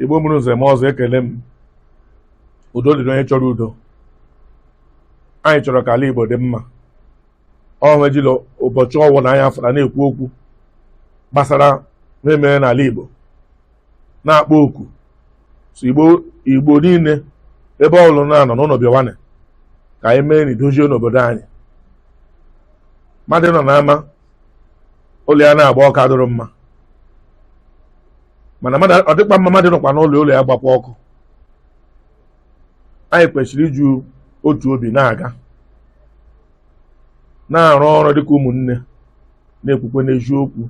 igbo mụrụ nze mụọ ọzọ ekele m udo dịrị onye chọrọ udo anyị chọrọ ka ala igbo dị mma ọ ihe ejila ụbọchị ọwụla anyị afụra na-ekwu okwu gbasara ihe emere n'ala igbo na-akpọ oku sị igbo igbo niile ebe ọla ị na-anọ unu bịawana ka anyị mee na idozie n'obodo anyị mmadụ nọ n'ama ụlọ ya na-agba ọkụ adịrọ mma mana mmadụ ọ dịkwa mma mmadụ nọkwa n'ụlọ ụlọ ya gbakwa ọkụ anyị kwesịrị iji otu obi na-aga na-arụ ọrụ dịka ụmụnne na-ekwukweni eziokwu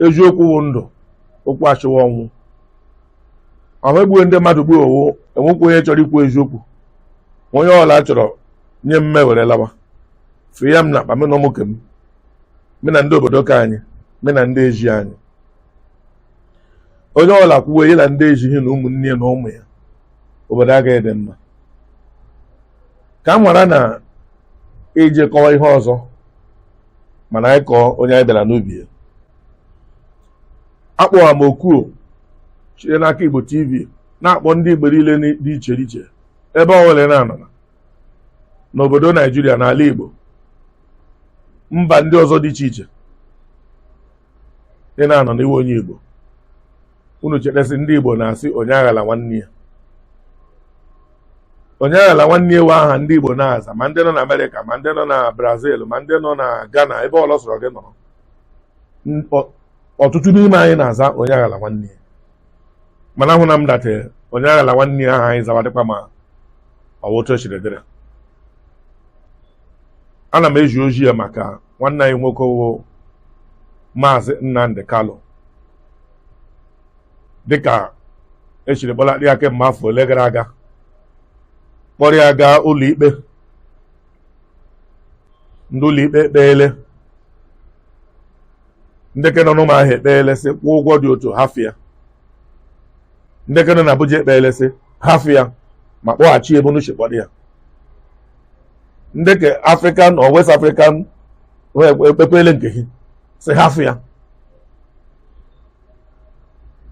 eziokwu wụ ndụ okwu ashị wụ ọnwụ ọ ihe egbuwe ndị mmadụ gbuo wụ enwekwa onye chọrọ ikwu eziokwu onye ọla chọrọ nye m m ewere lawa fụ ya m n'akpa m na ụmụ ke m me na ndị obodo ke anyị me na ndị ezi anyị onye ọla kwuwe ya na ndị ezi ghị na ụmụnne ya na ụmụ ya obodo agaghị adị mma ka m ghara na-eje kọwa ihe ọzọ mana anyị kọọ onye anyị bịara n'ubi ya akpọwa m oku o shiri n'aka igbo tv na-akpọ ndị igbo niile dị iche iche ebe ọla ị na-anọ n'obodo naijiria n'ala igbo mba ndị ọzọ dị iche iche ị na-anọ na ị wụ onye igbo unu cheta sị ndị igbo na-asị onye aghala nwanne ya onye aghala nwanne ya wụ aha ndị igbo na-aza ma ndị nọ na amerịka ma ndị nọ na brazil ma ndị nọ na ghana ebe ọla ọ sọrọ gị nọrọ N- ọ- ọtụtụ n'ime anyị na-aza onye aghala nwanne ya mana ahụna m that onye aghala nwanne ya ahụ anyị zawa dịkwa ma ọ wụ otu e shiri dịrị ana m ezi ozi a maka nwanne anyị nwoke wụ maazị Nnamdi Kanu dịka e shiri kpọlata ya kemgbe afọ ole gara aga kpọrọ ya gaa ụlọikpe ndị ụlọikpe ekpeele ndị ke nọ n'Ụmụahịa ekpeele sị kwụọ ụgwọ dị otu a hafụ ya ndị ke nọ na Abuja ekpeele sị hafụ ya ma kpọghachi ya ebe unu shi kpọrọ ya ndị ke African or West African ekpekwele nke hị sị hafụ ya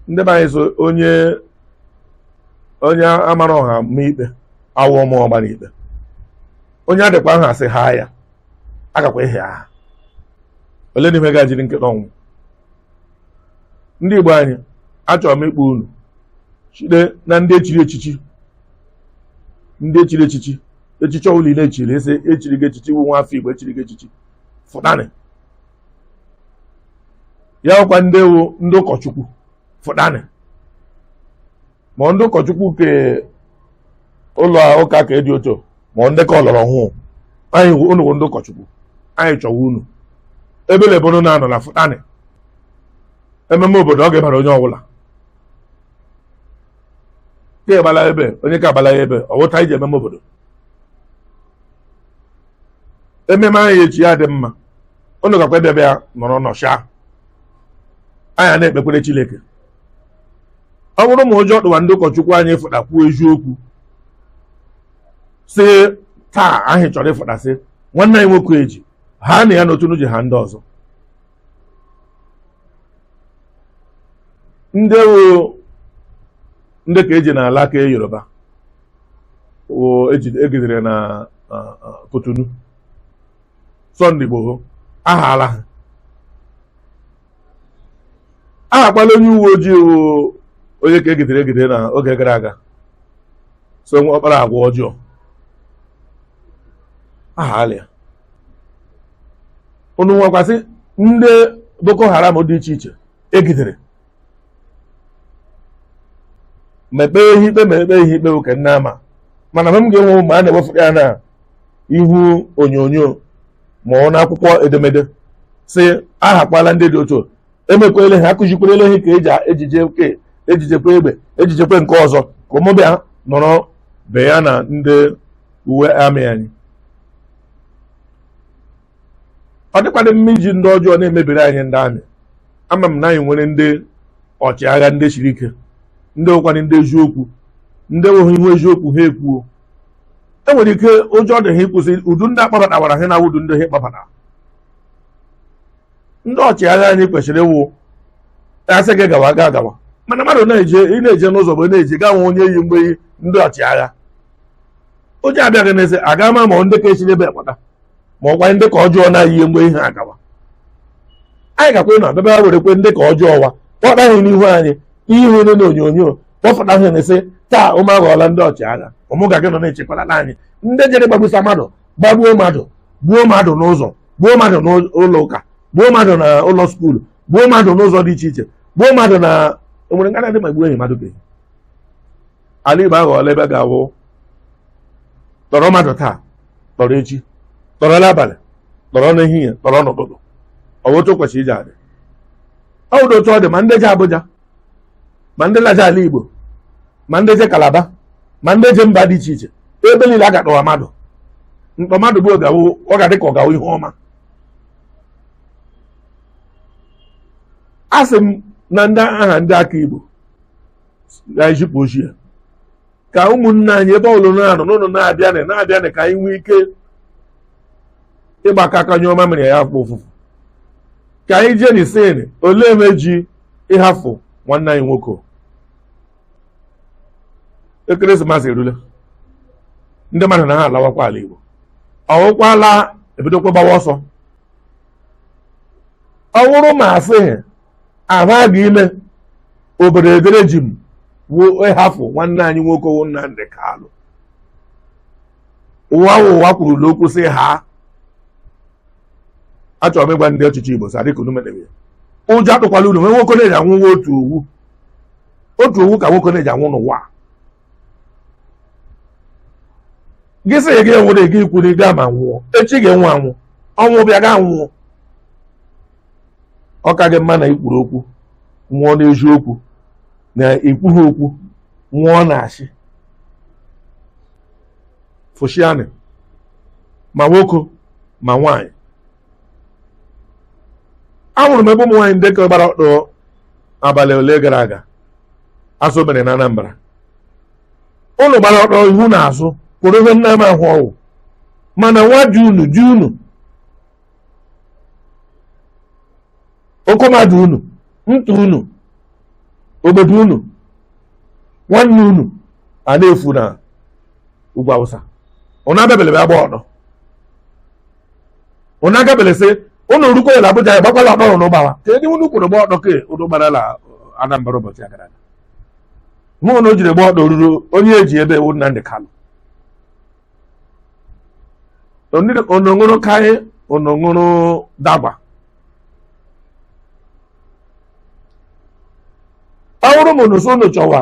ndị be anyị sị onye onye amara ọha ma ikpe awụọ ma ọgbara ikpe onye adịkwa aha sị ha ya agakwa ihe aha ole n'ime ga jiri nketa ọnwụ ndị Igbo anyị achọrọ m ịkpọ unu site na ndị echiri echichi ndị echiri echichi echichi ọbụla ị na-echiri ese echiri gị echichi ị wụ nwa afọ Igbo echiri gị echichi fụtanị ya wụkwa ndị wụ ndị ụkọchukwu fụtanị ma ndị ụkọchukwu ke ụlọ ụka ke dị ochie ma ndị ke ọlọrọ ọhụụ anyị unu bụ ndị ụkọchukwu anyị chọwa unu ebele ebe unu na-anọ na fụtanị ememe obodo ọ ga-ebara onye ọbụla ka egbala ebe onye ka agbala ebe ọwụta iji ememe obodo ememe anyị echi ya dị mma unu gakwa ịbịa bịa nọrọ nọchaa anyị ana-ekpekwere Chineke ọ bụrụ ma ụjọ tụwa ndị ụkọchukwu anyị fụta kwuo eziokwu sị taa anyị chọrọ ịfụta sị nwanne anyị nwoke eji ha na ya n'otu ji ha ndị ọzọ ndị wụ ndị ke eji n'ala ke Yoruba wụ eji- egidere na ah, ah, Cotonou Sunday Igboho ahaala ha ahakwala onye uwe ojii wụ onye ka egidere egidere na oge gara aga sị na ọ kpara agwa ọjọọ ahaala ya unu nwekwasị ndị boko haram dị iche iche egidere ma ekpee ha ikpe ma ekpee ha ikpe bụ ka nne ama mana mgbe m ga-enwe ụmụ a na-ewefụta ya na ihu onyonyo ma ọ wụ n'akwụkwọ edemede sị ahakwala ndị dị otu emekwele ha akụzikwerele ha ka eji ejije ke ejijekwa egbe ejijekwa nke ọzọ ka ụmụbịa nọrọ be ya na ndị uwe amị anyị ọ dịkwadị mma iji ndị ọjọọ na-emebiri anyị ndị amị ama m na anyị nwere ndị ọchịagha ndị siri ike ndị wụkwanị ndị eziokwu ndị wụ ha hụ eziokwu ha ekwuo e nwere ike ụjọ dị ha ịkwụsị ụdị ndị akpabatawara ha na ụdị ndị ha kpọbata ndị ọchịagha anyị kwesịrị ịwụ a sị gị gawa agha gawa mana mmadụ na-eje ị na-eje n'ụzọ bụ na-eje gaa nwe onye yi mgbe yi ndị ọchịagha ụjọ abịa gị n'isi a ga-ama ma ndị ka esi n'ebe ekpata ma ọ wụkwa ndị ke ọjọọ na-eyi mgbe ihe agawa anyị gakwa na abịa were kwa ndị ke ọjọọ wa kpọta ha n'ihu anyị ihe niile na onyonyo kpọpụta ha na-asị taa ụmụ aghọọla ndị ọchịagha ụmụ ga gị nọ na-echekwala anyị ndị jere gbagbusa mmadụ gbagbuo mmadụ gbuo mmadụ n'ụzọ gbuo mmadụ n'ụlọ ụka gbuo mmadụ na ụlọ skuulu gbuo mmadụ n'ụzọ dị iche iche gbuo mmadụ na onwere nga na-adị ma gbuo enyi mmadụ beghị ala Igbo aghọọla ebe ga-awụ tọrọ mmadụ taa tọrọ echi tọrọ n'abalị tọrọ n'ehihie tọrọ n'ụtụtụ ọ bụ otu o kwesịrị iji adị ọ bụ otu ọ dị ma ndị je Abuja ma ndị laja ala igbo ma ndị je kalaba ma ndị je mba dị iche iche ebe niile a ga-atọwa mmadụ ntọ mmadụ gbuo ọ ga-awụ ọ ga-adị ka ọ ga-awụ ihe ọma a sị m na ndị aha ndị aka igbo ga-ezipụ ozi a ka ụmụnne anyị ebe olu na-eru unu na-abịanị na-abịanị ka anyị nwee ike ịgbakọ aka nye ọma mere ya afọ ofufu ka anyị jeenị sịnị olee mme e ji ịhafụ nwanne anyị nwoke ekeresimesi erule ndị mmadụ na ha alawakwa ala igbo ọwụkwala ebidokwa gbawa ọsọ ọ wụrụ ma asịghị ahụ a ga ime obodo edere ji m wụ ịhafụ nwanne anyị nwoke wụ Nnamdi Kalụ ụwa wụ ụwa kwurula okwu sị haa achọrọ m ịgwa ndị ọchịchị Igbo sị dịka unu medebe ya. ụjọ atụkwala unu nwe nwoke na-eji anwụ wụ otu owu otu owu ka nwoke na-eji anwụ n'ụwa gị sị gị enwere gị ikwu na ị ga ma nwụọ echi ga-anwụ anwụ ọnwụ bịa ga nwụọ ọ ka gị mma na ikwuru okwu nwụọ n'eziokwu na ikwughị okwu nwụọ n'asị fụshianị ma nwoke ma nwaanyị ahụrụ m ebe ụmụ nwaanyị ndị ka gbara ọtọ abalị ole gara aga asụ mere na Anambra ụnụ gbara ọtọ ihu na azụ kwọrọ ihe nna m ahụ ọwụ mana nwa ji unu ji unu okomadu unu ntụ unu obodo unu nwanne unu a na-efu na ugwu awụsa ụnụ abịabele bịa gba ọtọ ụnụ agabele sị ụnụ rukwa la abuja ya gbakwala ọdọ ụnụ gbawa kedụ ihe unu kwọrọ gba ọtọ ke ụnụ gbara la anambra ụbọchị a gara aga nwa ụnụ jiri gba ọtọ ruru onye eji ebe wụ nnamdi kalụ unu ṅụrụ kaị unu ṅụrụ dagba ọ bụrụ ma unu so unu chọwa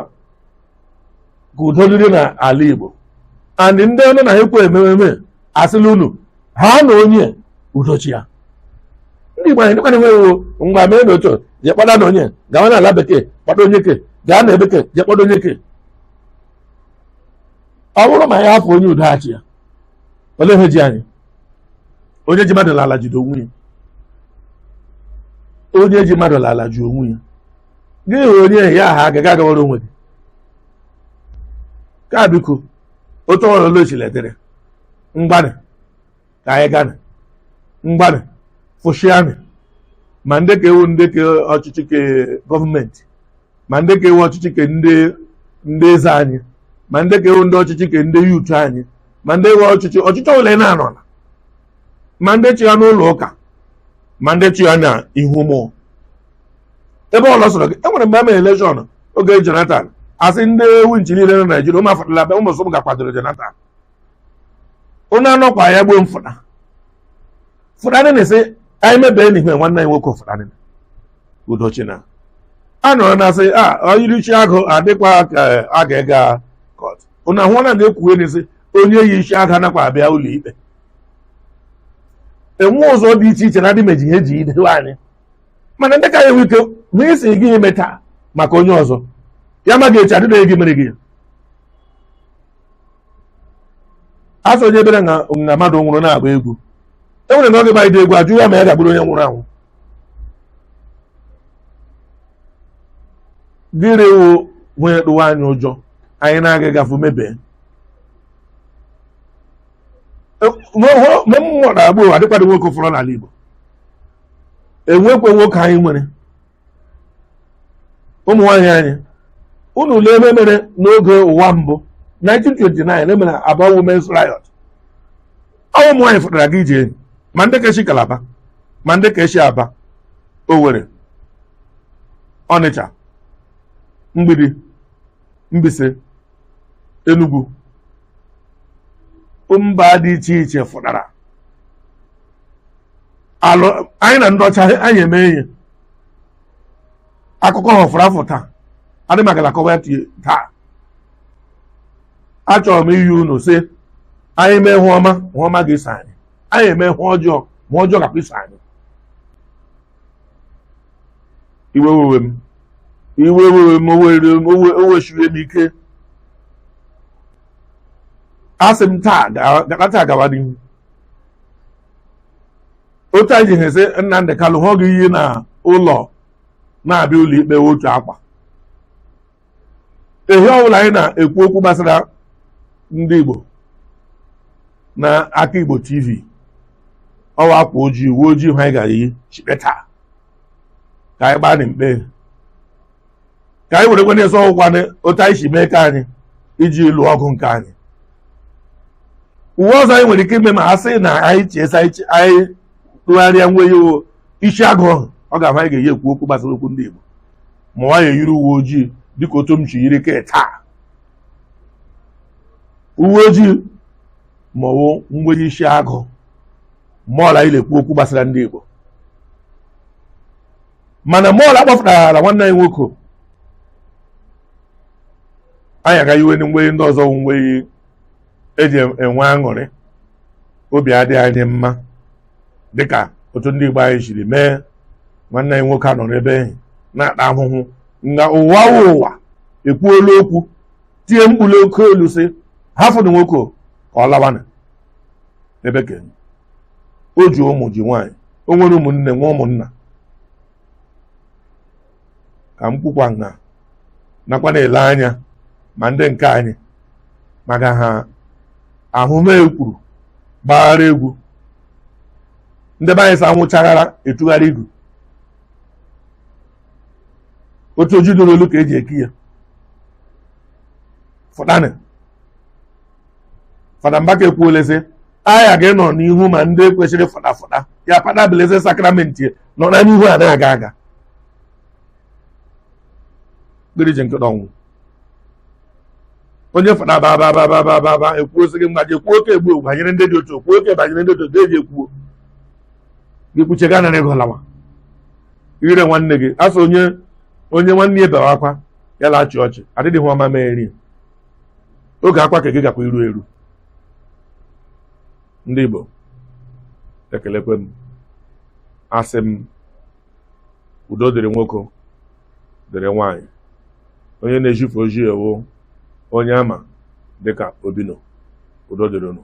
ka udo dịrị n'ala Igbo and ndị ọnụ na ekwe emememe asịla unu ha na onye udo chịa ndị Igbo anyị dịkwana enweghị mgbe mee na otu je kpọda na onye gawa n'ala bekee kpọda onye ke gaa na bekee je kpọda onye ke ọ bụrụ ma ya hapụ onye udo ọ chịa olee ihe ji anyị onye ji mmadụ n'ala jide onwe ya onye ji mmadụ n'ala ji onwe ya gị hụ onye ya aha agaghị agawara onwe gị ka biko otu ọwụla o sila dịrị ngwanụ ka anyị gana ngwanụ fụshianụ ma ndị ke wụ ndị ke ọchịchị ke gọọmenti ma ndị ke wụ ọchịchị ke ndị ndị eze anyị ma ndị ke wụ ndị ọchịchị ke ndị youth anyị ma ndị wụ ọchịchị ọchịchị ole na-anọ na ma ndị chịa n'ụlọ ụka ma ndị chịa na ihu mmụọ ebe ọwụla sọrọ gị enwere mgbe emere elekshọn oge Jonathan asị ndị winchi niile na Naijiria ụmụ afụtala be ụmụ sọm ga-akwadoro Jonathan onye anọkwa ya gbuo mfụta fụtanị na-esi anyị mebee n'ihe nwanne anyị nwoke fụtanị udochi na a nọrọ na asị a o yiri isi agụ adịkwa ka a ga-ega kọt unu ahụ na na-ekwuwe na-esi onye yi isi agụ anakwa abịa ụlọ ikpe enwe ụzọ dị iche iche na adị meji ihe eji idewe anyị mana ndị ka ya enwe ike ma esi gị ime taa maka onye ọzọ ya ma ga echi adịdịghị gị mere gị ya asị onye bere na na mmadụ nwụrụ na-agba egwu e nwere na oge baịdị egwu ajụ ya ma ya ga-agburu onye nwụrụ anwụ dịrị wụ nwunye tụwa anyị ụjọ anyị na-aga gafe mebe mgbe mmụọ na-agba ụwa adịkwadị nwoke fọrọ n'ala Igbo enwekwe nwoke anyị nwere ụmụ nwaanyị anyị unu lee ihe mere n'oge ụwa mbụ 1929 emere Aba Women's Riot ọ ụmụ nwaanyị fụtara gị ije enyi ma ndị ke shi Kalaba ma ndị ke shi Aba Owerri Ọnịcha mgbidi Mbaise Enugu mba dị iche iche fụtara alụ anyị na ndị ọcha anyị eme ihe akụkọ ha fọrọ afọ taa adị maka na kọwa taa achọrọ m iyi unu sị anyị mee hụ ọma hụ ọma ga-eso anyị anyị eme hụ ọjọọ hụ ọjọọ gakwa iso anyị iwe wewe m iwe wewe m o were m o we- o weshiri m ike asị m taa ga- ga- taa gawa n'ihu otu anyị ji ha sị Nnamdị Kalụ na ọ ga-eyi na ụlọ na-abịa ụlọ ikpe otu akwa ehi ọbụla anyị na-ekwu okwu gbasara ndị Igbo na aka Igbo TV ọ wụ akwa ojii uwe ojii ka anyị gara iyi shite taa ka anyị gbaa mkpe ka anyị werekwa na-eso ọ wụkwa otu anyị si mee ka anyị iji lụọ ọgụ nke anyị uwe ọzọ anyị nwere ike ime ma a sị na anyị chiesa anyị tụgharịa nweyi isi agụ ahụ ọ ga-awụ anyị ga-eyi ekwu okwu gbasara okwu ndị Igbo ma ọ wụ anyị eyiri uwe ojii dịka otu m shi yiri ke taa uwe ojii ma ọ wụ nweyi isi agụ ma ọla anyị na-ekwu okwu gbasara ndị Igbo mana ma ọla a kpọfụtara nwanne anyị nwoke anyị ga-eyiwe nweyi ndị ọzọ nweyi e ji enwe aṅụrị obi adị anyị mma dịka otu ndị Igbo anyị siri mee nwanne anyị nwoke anọrọ ebe ehi na-ata ahụhụ nga ụwa ụwa ekwuola okwu tie mkpu n'oke olu sị hafụdụ nwoke ka ọ lawana ebe ke ya o ji ụmụ ji nwaanyị o nwere ụmụnne nwee ụmụnna ka m kwukwa nha nakwa na-ele anya ma ndị nke anyị maka ha ahụmekwuru gbaghara egwu ndị be anyị sa nwụchaghara etugharị igu otu oji doro olu ka eji eki ya fụtanị Fada Mbaka ekwuole sị agha gị nọ n'ihu ma ndị kwesịrị fụta fụta ya paa Blessed Sacrament nọ na n'ihu a na-aga aga kpiriji nke ọnwụ onye Fada Mbaka ekwuo sị gị mgbaji ekwuo oke egbu banyere ndị dị otu ekwuo oke banyere ndị otu ga-eji ekwuo ị kwuchaa nara ego lawa ire nwanne gị asọ onye onye nwanne ya bewa akwa ya la-achị ọchị adịghị ihe ọ ma mee nri oge akwa ke gị gakwa iru eru ndị Igbo ekelekwe m asị m udo dịrị nwoke dịrị nwanyị onye na-ezifụ ozi a wụ onye a ma dịka Obino udo dịrị unu